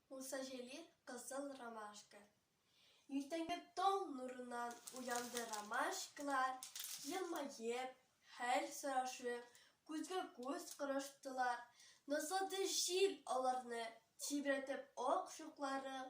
Муса Җәлил Кызыл ромашка Иртәнге таң нурыннан уянды ромашкалар, елмаеп, хәл сорашып, күзгә күз караштылар. Назлады җил аларны, тибрәтеп ак шукларын,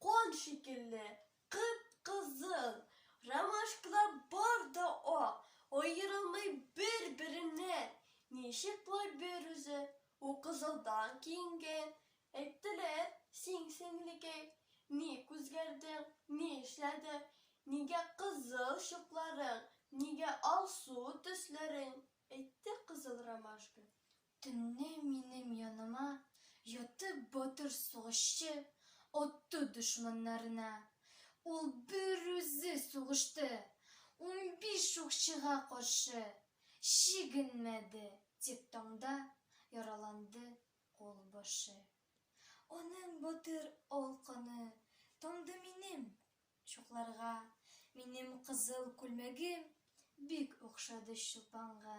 Кан шикелле кып-кызыл, ромашкалар бар да ак, аерылмый бер-береннән. Ничек болай бер үзе, ул кызылдан киенгән? Әйттеләр, син, сеңлекәй, ник үзгәрдең, ни эшләдең, нигә кызыл чукларың, нигә алсу төсләрең? Әйтте кызыл ромашка. Төнне минем яныма ятып батыр сугышчы атты дошманнарына. Ул берүзе сугышты унбиш укчыга каршы, чигенмәде, тик таңда яраланды кул башы. Аның батыр ал каны тамды минем чукларга, минем кызыл күлмәгем бик охшады чулпанга.